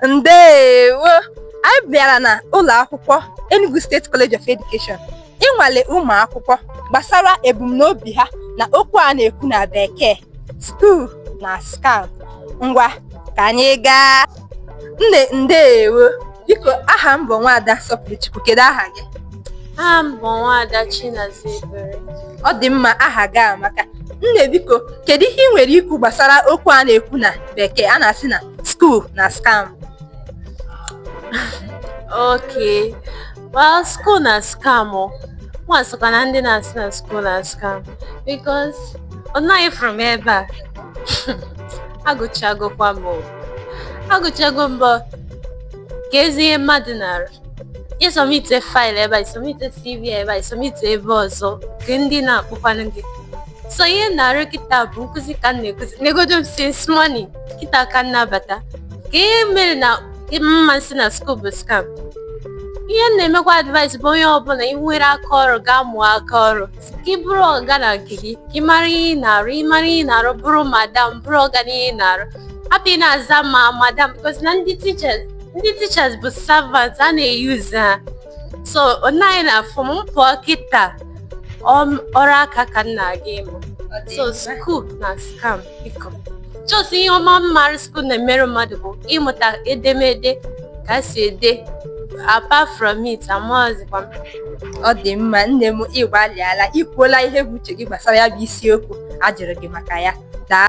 ndewo anyị bịara na ụlọ akwụkwọ Enugu State College of Education ịnwale ụmụ akwụkwọ gbasara ebumnobi ha na okwu a na-ekwu na bekee school na scam ngwa ka anyị gaa nne ndewo biko aha m bụ nwaada Sọpụrụchukwu kedu aha gị aha m bụ nwaada Chinaza Ebere ọ dị mma aha gị amaka nne biko kedu ihe ị nwere ikwu gbasara okwu a na-ekwu na bekee a na-asị na school na scam okay well school na scam mụ nwa sokwa na ndị na-asị na school na scam because ọ naghị fụrụ m ebe a agụchagokwa m agụchago m but keezi ihe mmadụ na-arụ ị sọmite file ebe a ị sọmite cv ebe a ị sọmite ebe ọzọ kee ndị na-akpọkwanụ gị so ihe m na-arụ kịta bụ nkụzi ka m na-ekụzi negodo m since morning kịta ka m na-abata kee ihe mere na m ma sị na school bụ scam ihe m na-emekwa advice bụ onye ọbụla ị nwere aka ọrụ gaa mụọ aka ọrụ ka ị bụrụ ọga na nke gị ka ị mara ihe ị na-arụ ị mara ihe ị na-arụ bụrụ madam bụrụ ọga na ihe ị na-arụ hapụ ị na-aza ma madam because na ndị teachers ndị teachers bụ servant a na-eyuzu ha so onye na-afụ m pụọ kịta ọrụ aka ka m na-aga ịmụ so school na scam biko just ihe ọma m mara school na-emere mmadụ bụ ịmụta edemede ka e si ede apart from it amazikwa m ọ dị mma nne m ị gbalịala i kwuola ihe bụ uche gị gbasara ya bụ isiokwu a jụrụ gị maka ya daa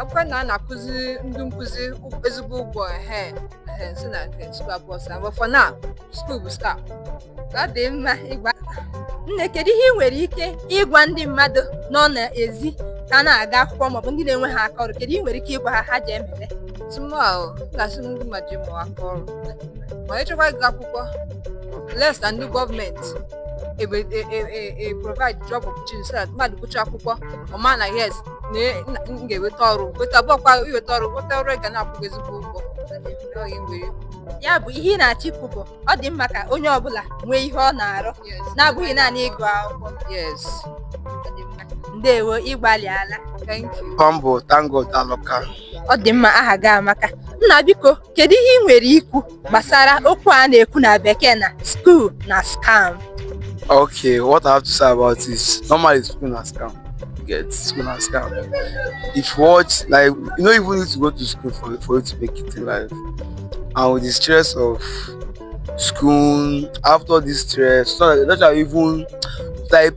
akwụkwọ na a na-akwụzi ndị nkụzi ezigbo ụgwọ ehe ehe si na nke school abụrọ scam but for now school bụ scam ọ dị mma ngwa nne kedu ihe ị nwere ike ịgwa ndị mmadụ nọ n'ezi ka na-aga akwụkwọ maọbụ ndị na-enweghị aka ọrụ kedu ihe ị nwere ike ịgwa ha ha ji emebe to me o m ga-asị ndị mmadụ je mụọ aka ọrụ ma ị chọkwa ịgụ akwụkwọ unless na ndị government ebe e e e e provide job opportunity so that mmadụ gụcha akwụkwọ ọ ma na yes na e- na- m ga-eweta ọrụ weta bụkwa iweta ọrụ weta ọrụ ga na-akwụ gị ezigbo ụgwọ Ọ ya nwere. ya bụ ihe ị na-achọ ikwu bụ ọ dị mma ka onye ọbụla nwee ihe ọ na-arụ Yes. na-abụghị naanị ịgụ akwụkwọ yes ndewo ị gbalịala thank you aha m bụ ThankGod Aloka. ọ dị mma aha gị amaka nna biko kedu ihe ị nwere ikwu gbasara okwu a na-ekwu na bekee na school na scam Okay, what I have to say about this, normally school na scam. Get school na scam. If you watch, like, you no even need to go to school for, for you to make it in life. And with the stress of school, after this stress, so that's why even like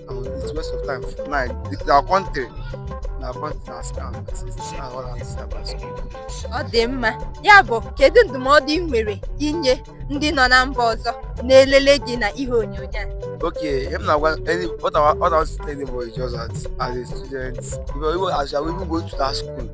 It's waste of time. Now, our country, our country na scam. Ọ dị mma. Ya bụ, kedu ndụmọdụ ị nwere inye ndị nọ na mba ọzọ na-elele gị na ihe onyonyo a? Okay, ihe m na what I what I was telling you is just that as a student, if you as you even go to that school,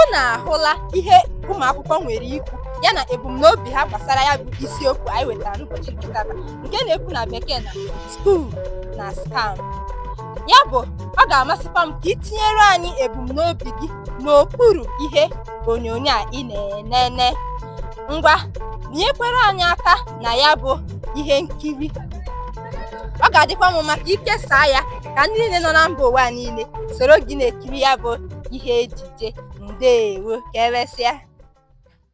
unu ahụla ihe ụmụ akwụkwọ nwere ikwu ya na ebumnobi ha gbasara ya bụ isiokwu anyị wetara n'ụbọchị nke taa nke na-ekwu na bekee na school na scam ya bụ ọ ga-amasịkwa m ka ị tinyere anyị ebumnobi gị n'okpuru ihe onyonyo a ị na-enene ngwa nyekwere anyị aka na ya bụ ihe nkiri ọ ga-adịkwa mma ka i kesaa ya ka ndị niile nọ na mba ụwa niile soro gị na-ekiri ya bụ ihe ejije ndewo ka emesịa